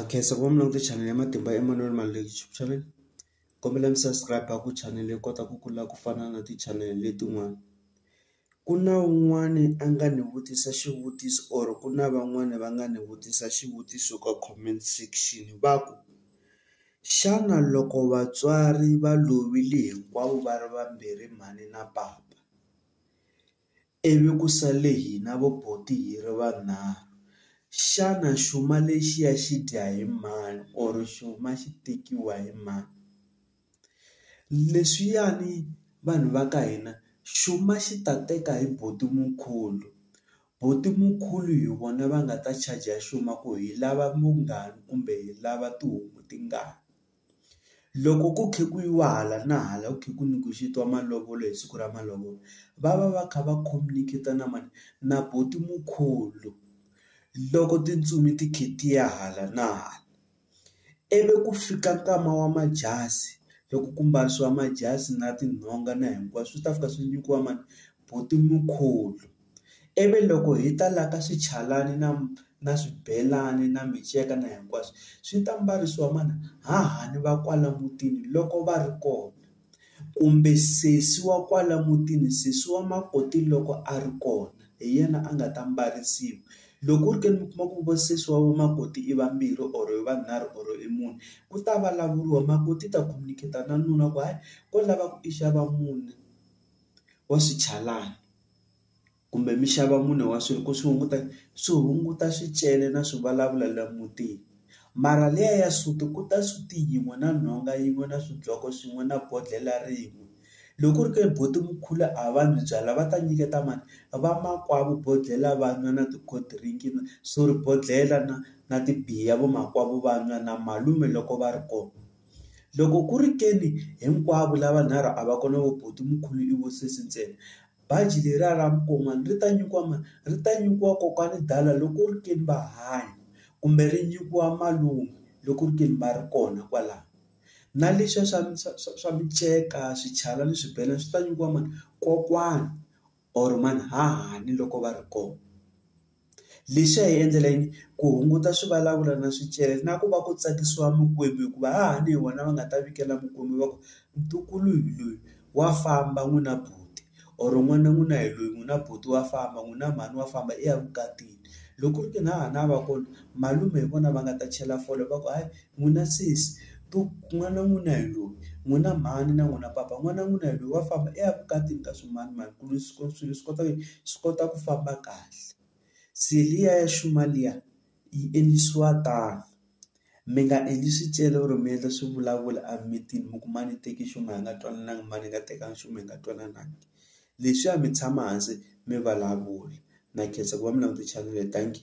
Khenseka wa Mulorho channel ya matimba Emmanuel Maluleke YouTube channel kombela mi subscribe ku channel yi kota ku kula ku fana na ti-channel letin'wana. Ku na un'wani a nga ni vutisa xivutiso or ku na van'wani va nga ni vutisa xivutiso ka comment section va ku, xana loko vatswari va lovile hinkwavo va ri vambirhi mhani na papa Ivi ku sale hina vo buti hi ri vanharhu. Xana xuma lexiya xi dya hi mani or xuma xi tekiwa hi mani? Leswiyani vanhu va ka hina xuma xi ta teka hi buti Mukhulu. Buti Mukhulu hi vona va nga ta charger xuma ku hi lava mungani kumbe hi lava tihomu tingani. Loko ku kha ku yiwa hala na hala ku kha ku negotiate-iwa malovolo hi siku ra malovolo, va va va kha va communicate-a na mani? Na buti mukulu. Loko tintsumi ti kha ti ya hala na hala, ivi ku fika nkama wa majasi, loko ku mbarisiwa majasi na tinhonga na hinkwaswo swi ta fika swi nyikiwa mani? Buti mukulu. Ivi loko hi ta la ka swichalani na na swibelani na miceka na hinkwaswo, swi ta mbarisiwa mana? Hahani va kwala mutini loko va ri kona, kumbe sesi wa kwala mutini, sesi wa makoti loko a ri kona hi yena a nga ta mbarisiwa. Loko ku ri ke ni mi kuma ku vo sesi wa makoti i vambirhi or i vanharhu or i mune, ku ta vulavuriwa makoti i ta khomeketa na nuna ku hayi ko lava ku i xava mune wa swichalani. kumbe mi xava mune wa swilo ku swi hunguta swi hunguta swicele na swi vulavula la mutini mara liya ya suti ku ta suti yin'we na nhonga yin'we na swidloko swin'we na bodlhela rin'we loko ku ri ke buti Mkhulu a va n'wi byala va ta nyiketa mani vamakwavo bodlhela va n'wa na ti cold drink sorry bodlhela na na tibiya vamakwavo va n'wa na malume loko va ri kona. Loko ku ri ke ni hinkwavo lavanharhu a va kona vo buti Mkhulu i vo sesi ntsena, baji leriya ra mukon'wana ri ta nyikiwa mani? Ri ta nyikiwa kokwani Dala loko ku ri ke ni va hanya kumbe ri nyikiwa malume loko ku ri ke ni va ri kona kwalano. Na leswiya swa swa swa swa miceka, swichalani, swibelani swi ta nyikiwa mani? Kokwani or mahanhani loko va ri kona. Lexi a hi endlela yini ku hunguta swivulavula na swicele na ku va ku tsakisiwa mikwembu hikuva hahani hi vona va nga ta vikela mikwembu va ku ntukulu hi loyi wa famba n'wina buti or n'wana n'wina hi loyi n'wina buti wa famba n'wina mhani wa famba i ya vukatini loko ku ri ke ni hahani a va kona malume hi vona va nga ta chela fole va ku hayi. n'wina sesi to n'wana wa n'wina hi loyi n'wina mhani na n'wina papa n'wana wa n'wina hi loyi wa famba i ya vukatini ka swimanimani ku ri swilo swi kota ku yini swi kota ku famba kahle se liya ya xuma liya yi endlisiwa tano mi nga endli swicele or mi endla swivulavula a mimitini mi ku mani teki xuma hi nga twanananga mani hi nga tekanga nchumu hi nga twanananga leswiya mi tshama hansi mi vulavula na khensa ku va mi langute chanele tanki.